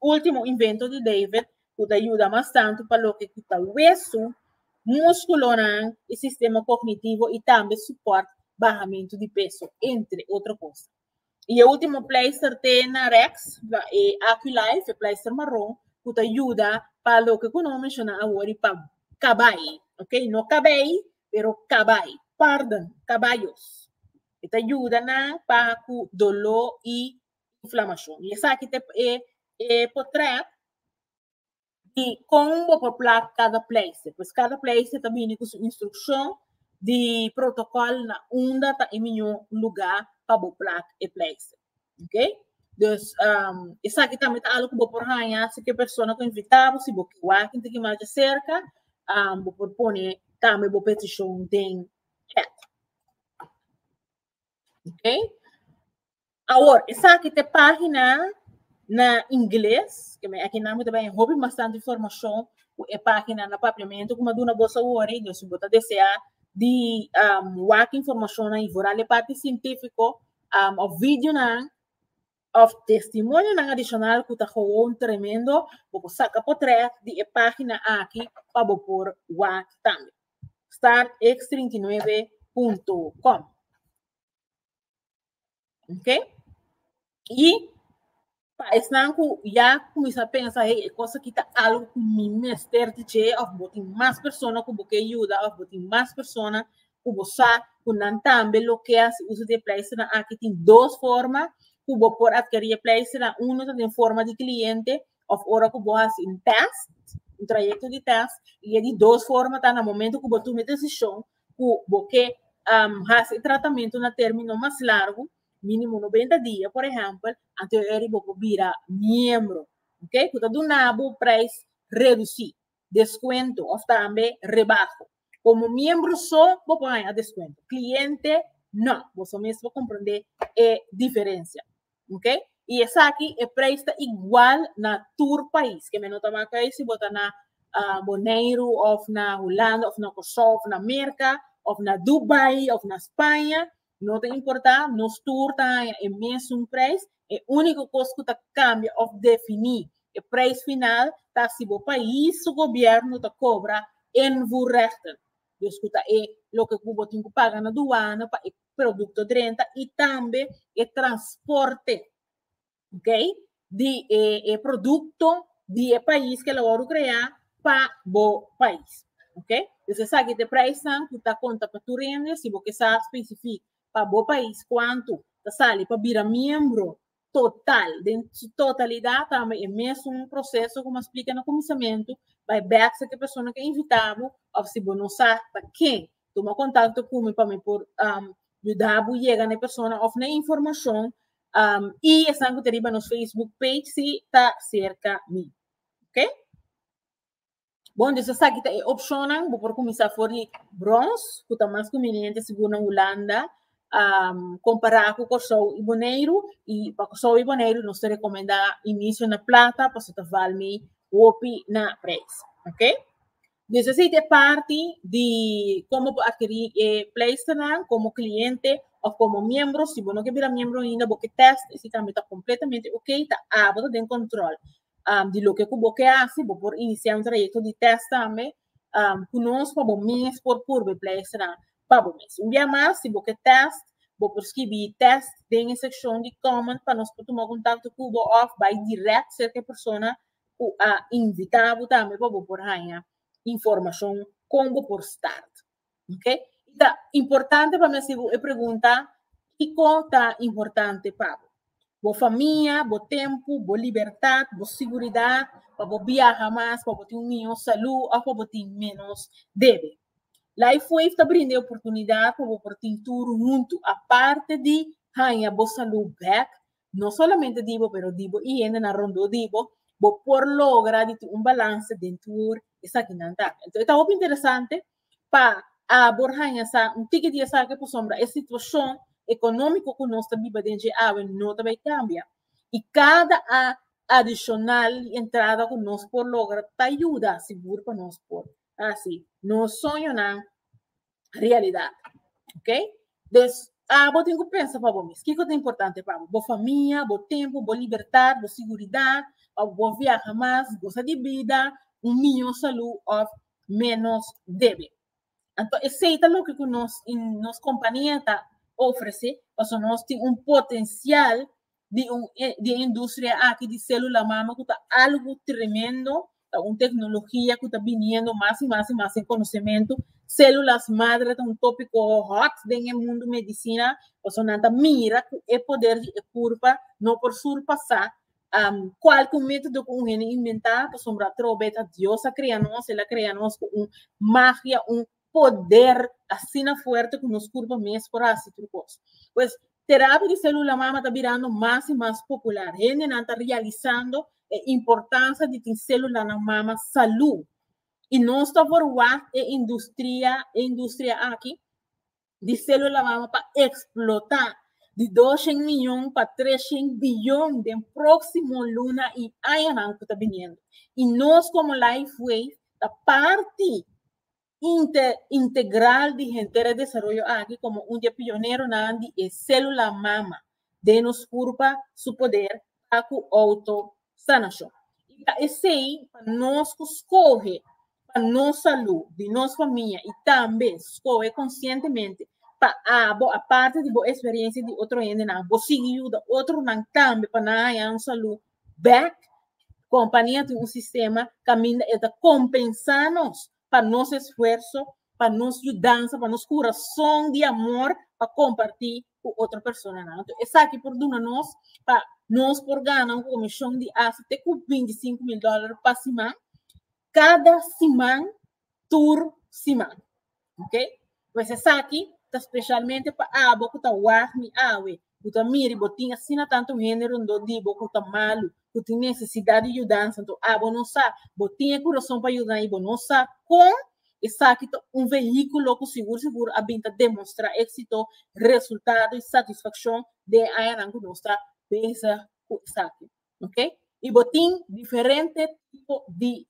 último invento di David, cu ta yuda mas tanto pa loke cu ta wesu, musculonan, y sistema cognitivo y tambe support bahamento di peso, entre otro cosa. Y e ultimo pleister te na Rex, e Aquilife, e pleister marron, cu ta yuda pa loke cu no menciona awori pa cabai, ok, no cabei, pero cabai, pardon, cabayos. E ta yuda nan pa cu dolo y inflamacion. Y esaki ta e, e potret di kon bo por plant kada pleise. Pues kada pleise ta bini ku su instrukshon di protokòl na unda ta e miñó lugá pa bo plant e pleise. Ok? Dus, um, esaki tambe ta algu ku bo por haña si ke persona ku invitá bo, si bo ke wak inti ki masha serka, um, bo por pone tambe bo petishon den chat. Ok? Awor, esaki ta e página na ingles, ke mi aki nan bo ta bay un hopi bastante informashon ku e página na Papiamentu ku mi a duna boso awor ei. Den, si bo ta deseá di wak informashonnan i foral e parti sientífiko òf videonan òf testimonionan adishonal ku ta gewoon tremendo, bo por saka potrèt di e página aki pa bo por wak tambe. Startx39.com. Ok? Y pa esnan cu ya cuminsa pensa, hey, e cosa aquí ta algo cu mi mester di dje, of bo tin mas persona cu bo ke yuda, of bo tin mas persona cu bo sa cu nan tambe lo ke haci uso di e pleisternan aki. Tin dos forma cu bo por adkeri e pleisternan. Uno ta den forma di cliente of ora cu bo haci un test, un trayecto di test. Y e di dos forma ta na momento cu bo tuma e decision ku bo ke hasi e tratamentu na término mas largu, mínimo noventa dia, por ehèmpel, anteor di bo por bira miembro, ok, ku ta duna bo preis redusí, deskuento òf tambe rebaho. Komo miembro so bo por haña deskuento, kliente no, boso mes por komprendé e diferensia. Ok, y esaki e prijs ta igual na tur pais, kende no ta maka ei si bo ta na Boneiru of na Hulanda of na Kòrsou of na Merka of na Dubai of na Spaña, no ta importa nos tur ta haña e mesun prijs, e úniko kos ku ta kambia of definí e prijs final ta si bo pais su gobièrnu ta kobra invoerrechten, dus ku ta e loke ku bo tin ku paga na duana pa e producto drenta y tambe e transporte okay di e, e producto di e país que lo crea pa bo país. Okay? Dus esaki te prijs nan ku ta konta pa tur hende si bo ke sa specifiek pa bo país kuantu ta sali pa bira miembro total, den su totalidad tambe e mesun proceso como a explica na cuminsamentu, bay bek sa ki persona ke invita bo, of si bo no sa ta ken, tuma contacto cu mi pa mi por yuda bo yega na e persona of na e informacion, y esabi cu ta riba nos Facebook page si ta cerca mi. Ok. Bon, dus esaki ta e opcionnan. Bo por cuminsa for di Brons, cu ta mas conveniente sigur na Hulanda, um, compara cu Corsou y Boneiru. Y pa Corsou y Boneiru nos ta recomenda inicio na Plata, paso ta val mi hopi na prijs. Ok? Dus esaki ta e parti di como bo adquiri e pleisternan como cliente of como miembro. Si bo no ke bira miembro ainda, bo ke test y si tambe ta completamente ok, ta abo ta den control. um, di loke ku bo ke hasi, bo por inisiá un trayekto di tèst tambe um, ku nos pa bo mes por purba e pleisnan pa bo mes. Un bia mas, si bo ke tèst, bo por skibi tèst den e sekshon di comment pa nos por tuma kontakto ku bo òf bai dirèk serka e persona ku a invitá bo tambe pa bo por haña informashon kon bo por start. Ok? I ta importante pa mi hasi bo e pregunta, kiko ta importante pa bo? Bo famia, bo tempu, bo libertat, bo siguridat, pa bo biaha mas, pa bo tin un mihó salú òf pa bo tin ménos debe. LifeWave ta brinda e oportunidat pa bo por tin tur huntu. Aparte di haña bo salú bèk, no solamente di bo, pero di bo i hendenan rondó di bo, bo por logra di tin un balanse den tur esakinan ta. Enton e ta hopi interesante pa abor haña sa un tiki di esaki pasobra e situashon ekonómiko ku nos ta biba den dje awe no ta bai kambia i kada a adishonal di entrada ku nos por logra ta yuda sigur pa nos por hasi nos soñonan realidad. Ok? Des, ah, bo tin ku pensa pa bo mis. Kiko ta importante pa bo? Bo famia, bo tempo, bo libertad, bo seguridad, of bo viaha mas, gosa di bida, un miyo salu of menos debe. Anto esei ta loke ku nos, in, nos kompania ta ofrese, paso nos tin un potensial di un e di e industria aki di celula mama cu ta algo tremendo, ta un tecnologia cu ta biniendo mas y mas y mas en conocemento. Células madre ta un tópico hot den e mundo medicina, pasobra nan ta mira cu e poder di e curpa no por surpasa am cualke un método cu un hende inventá, pasobra atrobe ta Dios a crea nos, el a crea nos cu un magia, un poder asina fuerte cu nos curpa mes por haci tur cos. Pues terapia di celula mama ta birando mas y mas popular. Hendenan ta realizando e importancia di tin celulanan mama salud. Y nos ta por wak e industria, e industria aki di celula mama pa explota di doshen miyon pa treshen biyon den proximo luna y añanan cu ta biniendo. Y nos como Lifewave ta parti inte integral di henter e desaroyo aki komo un di e pioneronan di e sélula mama den nos kurpa su poder pa ku outosanashon. I ta esei pa nos ku skohe pa nos salú, di nos famia i tambe skohe konsientemente pa abo, aparte di bo eksperiensia di otro hendenan, bo sigui yuda otronan tambe pa nan haña un salú back compania tin un sistema caminda e ta compensa nos pa nos esfuerzo pa nos yudanza pa nos corazon di amor pa comparti cu otro persona nan entonces esaki por duna nos pa nos por gana un comision di asta te cu binti sinku mil dollar pa siman Cada siman tur siman. Ok? Pues esaki ta specialmente pa abo cu ta wak mi awe, cu ta miri bo tin asina tanto hende rondó di bo cu ta malu, cu tin necesidad di yudansa, anto abo no sa, bo tin e curason pa yuda nan y bo no sa con, esaki ta un vehiculo cu sigur sigur a bin ta demonstra exito, resultado y satisfaccion den e añanan cu nos ta bezig cu esaki. Ok, y bo tin diferente tipo di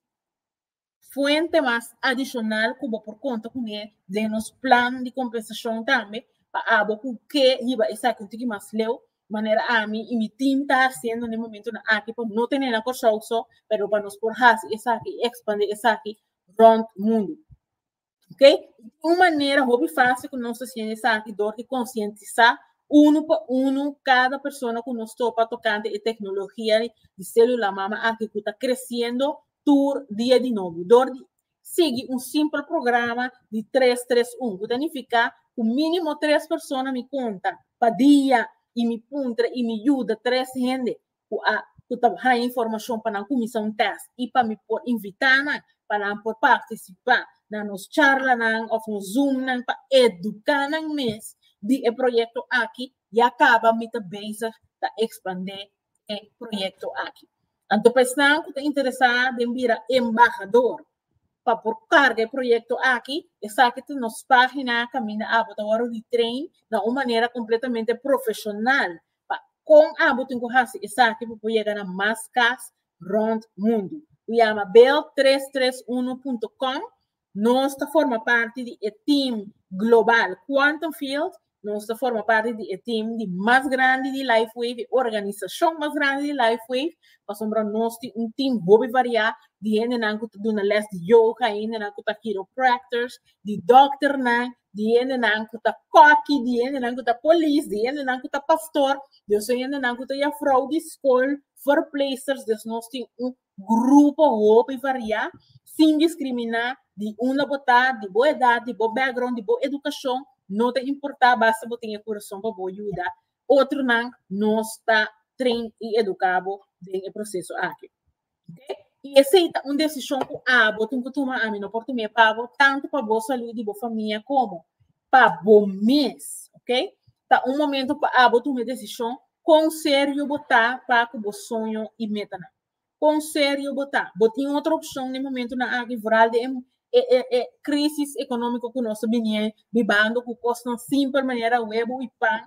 fuente mas adicional cu bo por conta cu ne den nos plan di compensacion tambe pa abo cu ke yiba esaki un tiki mas leu manera ami y mi team ta haciendo na e momentonan aki pa no tene na Kòrsou so pero pa nos por haci esaki y expandi esaki rond mundo. Ok? Un manera hopi fácil ku nos ta siña esaki dor di konsientisá unu pa unu kada persona ku nos topa tokante e teknologia di sélula mama aki ku ta kresiendo tur dia di nobo dor di sigui un simpel programa di tres tres un ku ta nifiká ku mínimo tres persona mi konta pa dia i mi puntra i mi yuda tres hende ku a ku ta haña informashon pa nan kuminsá un tèst i pa mi por invitá nan pa nan por partisipá na nos charlanan òf nos Zoomnan pa eduká nan mes di e proyekto aki ya kaba mi ta bezig ta ekspandé e proyekto aki. Anto pa esnan ku ta interesá den bira embahador pa por karga e proyekto aki, esaki ta nos página kaminda abo ta wòrdu di train na un manera kompletamente profeshonal Pa kon abo tin ku hasi esaki pa por yega na mas kas rònt mundu? Ku yama bel tres tres uno punto com. Nos ta forma parti di e tim global Quantum Field. Nos ta forma parti di e tim di mas grandi di LifeWave, e organisashon mas grandi di LifeWave, pasobra nos tin un tim hopi variá di hendenan ku ta duna lès di yoga, hendenan ku ta kiropractors, di dokternan, di hendenan ku ta koki, di hendenan ku ta polis, di hendenan ku ta pastor, di su hendenan ku ta yafrou di skol, verpleegsters. Dus nos tin un grupo hopi variá, sin diskriminá di unda bo ta, di bo edat, di bo bèkgròun, di bo edukashon, no ta importá, basta bo tin e kurason pa bo yuda otronan, nos ta train i eduká bo den e proseso aki. Y esey ta un decision cu abo tin cu tuma, ami no por tuma e pa bo, tanto pa bo salud di bo famia como pa bo mes, ok? Ta un momento pa abo tuma e decision con serio bo ta pa cu bo soño y metanan. Con serio bo ta. Bo tin otro opcion na e momentonan aki vooral den e e e crisis economico cu nos ta bini a bibando cu cosnan simple manera huevo y pan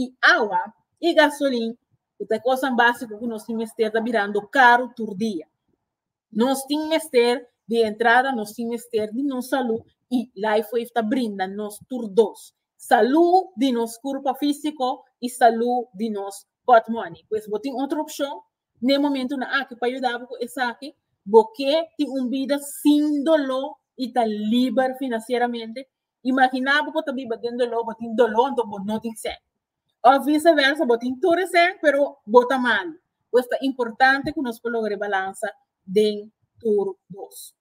y awa y gasolin. Cu ta e cosnan básico cu nos tin mester ta birando caru tur dia. Nos tin mester, di entrada, nos tin mester di nos salú y Lifewave ta brinda nos tur dos, salú di nos curpa físico y salú di nos pòtmòni. Pues bo tin otro opcion n'e momentunan aki pa yuda bo cu esaki, bo ke tin un bida sin doló y ta liber financieramente? Imaginá bo ku ta biba den doló, bo tin doló anto bo no tin sèn. Òf viseversa, bo tin tur e sèn pero bo ta malu. Pues ta importante ku nos por logra e balansa den tur dos.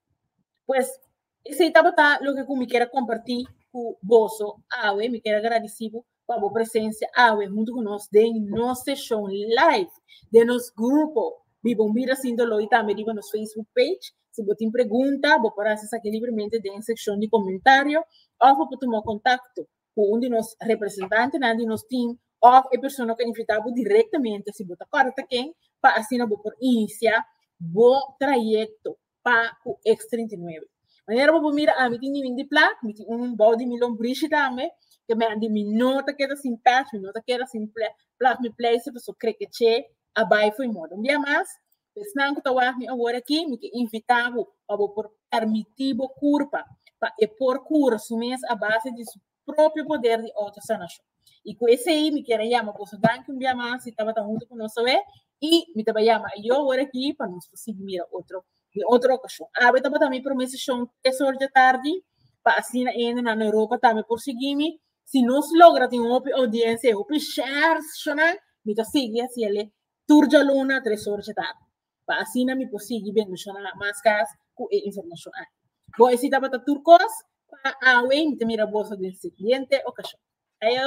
Pues esei tabata loke ku mi kier a kompartí ku boso awe. Mi kier a gradisí bo pa bo presencia awe hunto cu nos den nos seshon live den nos grupo Biba un Bida Sin Doló y tambe riba nos Facebook page. Si bo tin pregunta, bo por haci esaki libremente den e seccion di comentario of bo por tuma contacto cu un di nos representantenan di nos team of e persona cu a invita bo directamente, si bo ta corda ta ken, pa asina bo por inicia bo trayecto pa ku eks trinta i nuebe. Manera bo por mira ami tin niño di plat, mi tin un bou di mi lombrishi tambe, ke mi a di mi no ta keda sin pèch, mi no ta keda sin plat mi pleise pasobra kree ke che a bai fo'i mor. Un bia mas, esnan ku ta wak mi awor aki, mi ke invitá bo pa bo por permití bo kurpa pa e por kura su mes a base di su propio poder di autosanacion. Y cu esey mi kier a yama boso danki un bia mas si tabata hunto cu nos awe y mi ta bay yama a yo hora aki pa nos por sigui mira otro den otro ocasion. Awe tabata mi prome sesion tres or dja tardi pa asina hende nan na Europa tambe por sigui mi. Si nos logra tin hopi audiencia y hopi share sesionnan mi ta sigui haciele tur djaluna tres or dja tardi. pa asina mi por sigui bendeshona mas kas ku e informashon aki. Bo e si tabata tur kos pa awe mi ta mira boso den sigiente okashon. Ayo!